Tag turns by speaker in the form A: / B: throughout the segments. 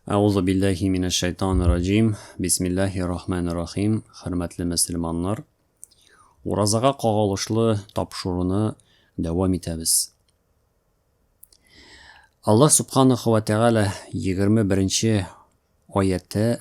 A: Әгузу билләһи минәш шәйтанир раҗим. Бисмиллаһир рахманир рахим. Хөрмәтле мөселманнар, уразага кагылышлы тапшыруны дәвам итәбез. Аллаһ субханаху ва тәгалә 21 нче аятта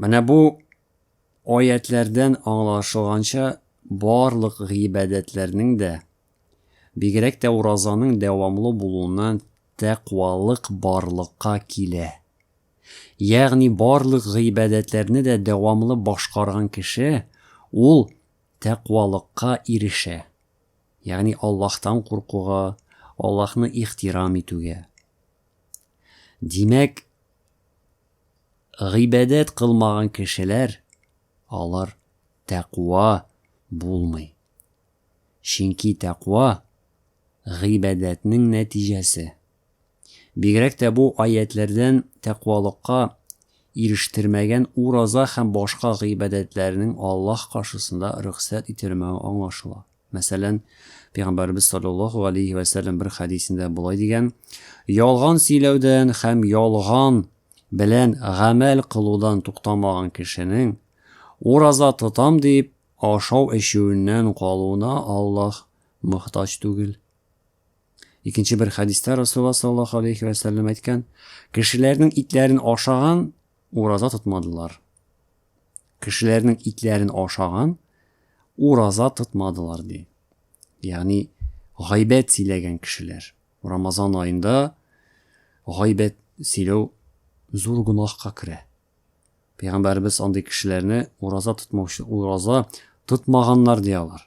A: Менә бу аятьләрдән аңлашылганча, барлык гыйбадәтләрнең дә, бигрәк тә уразаның дәвамлы булуыннан тәкъвалык барлыкка килә. Ягъни барлык гыйбадәтләрне дә дәвамлы башкарган кеше ул тәкъвалыкка ирешә. Ягъни Аллаһтан куркуга, Аллаһны ихтирам итүгә. Димәк, гыйбадәт кылмаган кешеләр, алар тәкъва булмый. Чөнки тәкъва гыйбадәтнең нәтиҗәсе. Бигрәк тә бу аятьләрдән тәкъвалыкка ирештермәгән ураза һәм башка гыйбадәтләрнең Аллаһ каршысында рөхсәт ителмәве аңлашыла. Мәсәлән, Пәйгамбәребез саллаллаһу галәйһи вә сәлләм бер хәдисендә болай дигән, Ялган сөйләүдән һәм ялган белән гамәл кылудан туктамаган кешенең, ураза тотам дип, ашау-эчүеннән калуына Аллаһ мохтаҗ түгел. Икенче бер хәдистә Расулла саллаллаһу алейхи вәсәлләм әйткән, кешеләрнең итләрен ашаган ураза тотмадылар. Кешеләрнең итләрен ашаган, ураза тотмадылар ди. Ягъни гайбәт сөйләгән кешеләр. Рамазан аенда гайбәт сөйләү зур гөнаһка керә. Пәйгамбәрбез андый кешеләрне ураза тотмаучы, ураза тотмаганнар ди алар.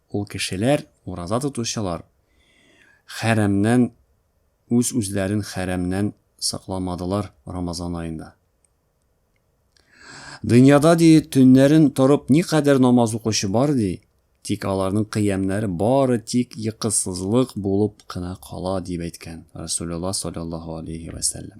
A: Ул кешеләр, ураза тотучылар, хәрәмнән, үз-үзләрен хәрәмнән сакламадылар Рамазан аенда. Дөньяда, ди, төннәрен торып никадәр намаз укучы бар, ди, тик аларның кыямнәре бары тик йокысызлык булып кына кала, дип әйткән Расулулла саллаллаһу алейһи вә сәлләм.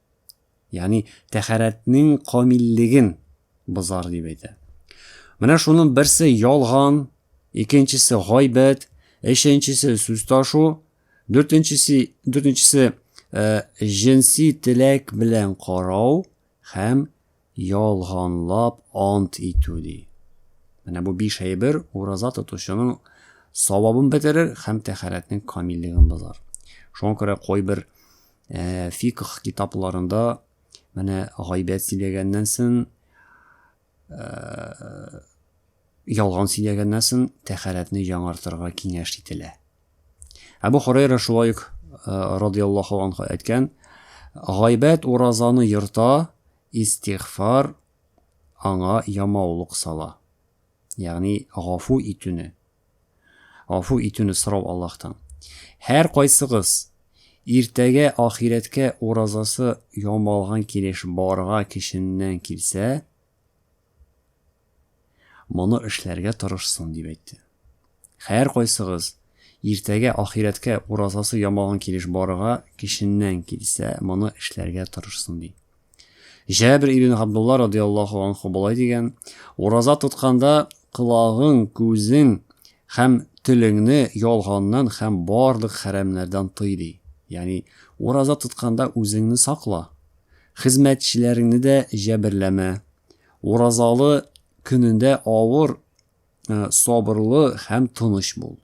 A: Ягъни тәһарәтнең камиллеген бозар дип әйтә. Менә шуның берсе ялган, икенчесе гайбәт, өченчесе сүз ташу, дүртенчесе, дүртенчесе җенси теләк белән карау һәм Ялганлап ант итү, ди. Менә бу биш әйбер ураза тотучының савабын бетерер һәм тәхәрәтнең камиллеген бозар. Шуңа күрә кайбер э, фикх китапларында менә гайбәт сөйләгәннән соң э, ялган сөйләгәннән соң тәхәрәтне яңартырга киңәш ителә. Әбу Хурайра шулай ук радиаллаху анху әйткән, гайбәт уразаны йорта, истигъфар аңа ямаулык сала. Ягъни гафу итүне, гафу итүне сорау Аллаһтан. Һәр кайсыгыз иртәгә ахирәткә уразасы ямалган килеш барга кешеннән килсә, Моны эшләргә тырышсын, дип әйтте. Хәеркайсыгыз, иртәгә ахирәткә уразасы ямалган килеш барырга, кешеннән килсә, моны эшләргә тырышсын, ди. Җәбер ибн Габдулла радиаллаху анху болай дигән, ураза тотканда колагың, күзең һәм телеңне ялганнан һәм барлык хәрәмнәрдән тый, ди. Ягъни, ураза тотканда үзеңне сакла. хезмәтчеләреңне дә җәберләмә. Уразалы көнендә авыр, э, сабырлы һәм тыныч бул.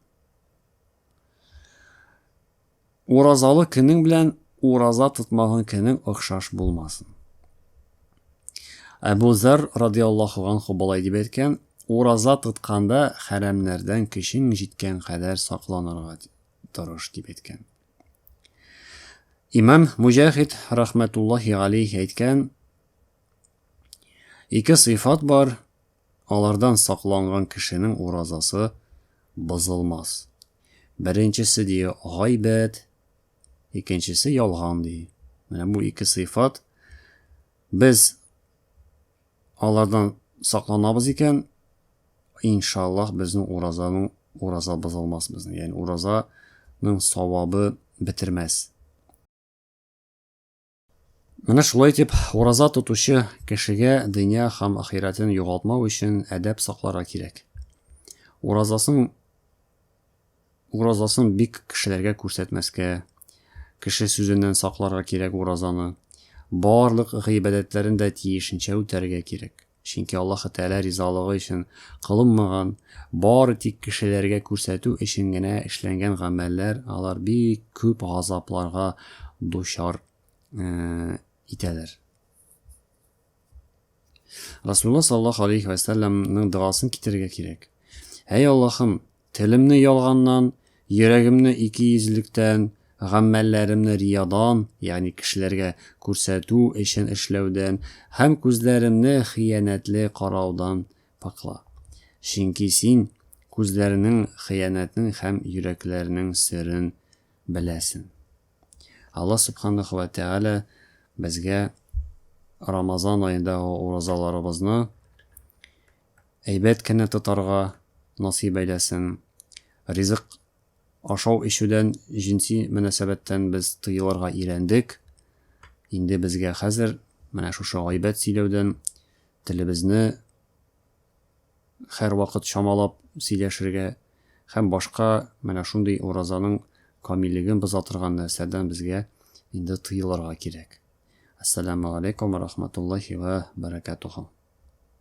A: Уразалы көнең белән ураза тотмаган көнең охшаш булмасын. Әбу Зар радиаллаху анху болай дип әйткән, ураза тотканда хәрәмнәрдән көчең җиткән кадәр сакланырга тырыш дип әйткән. Имам Муҗахид рахмәтуллаһи алейх әйткән, ике сыйфат бар, алардан сакланган кешенең уразасы бозылмас. Беренчесе дие гайбәт, икенчесе ялган ди. Менә бу ике сыйфат без Алардан сакланабыз икән, иншаллаһ, безнең уразаның ураза бозылмас безнең. Ягъни уразаның савабы бетермәс. Менә шулай итеп, ураза тотучы кешегә дөнья һәм ахирәтен югалтмау өчен әдәп сакларга кирәк. Уразасын Уразасын бик кешеләргә күрсәтмәскә, кеше сүзеннән сакларга кирәк уразаны. Барлык гыйбадәтләрен дә тиешенчә үтәргә кирәк. Чөнки Аллаһы Тәгалә ризалыгы өчен кылынмаган, бары тик кешеләргә күрсәтү өчен генә эшләнгән гамәлләр, алар бик күп газапларга дучар итәләр. Расулла саллаллаһу алейхи вә сәлләмнең догасын китерергә кирәк. Әй Аллаһым, телемне ялганнан, йөрәгемне икейөзлектән, гамәлләремне риядан, ягъни кешеләргә күрсәтү өчен эшләүдән, һәм күзләремне хыянәтле караудан пакла. Чөнки Син күзләрнең, хыянәтнең һәм йөрәкләрнең серен беләсең. Алла Субханаһу вә Тәгалә безгә Рамазан аендагы уразаларыбызны әйбәт кенә тотарга насыйп әйләсен. Ризык ашау-эчүдән, җенси мөнәсәбәттән без тыелырга өйрәндек. Инде безгә хәзер менә шушы гайбәт сөйләүдән телебезне һәрвакыт чамалап сөйләшергә һәм башка менә шундый уразаның камиллеген боза торган нәрсәдән безгә инде тыелырга кирәк. Әссәләмү галәйкүм вә рахматуллаһи вә бәрәкәтүһү.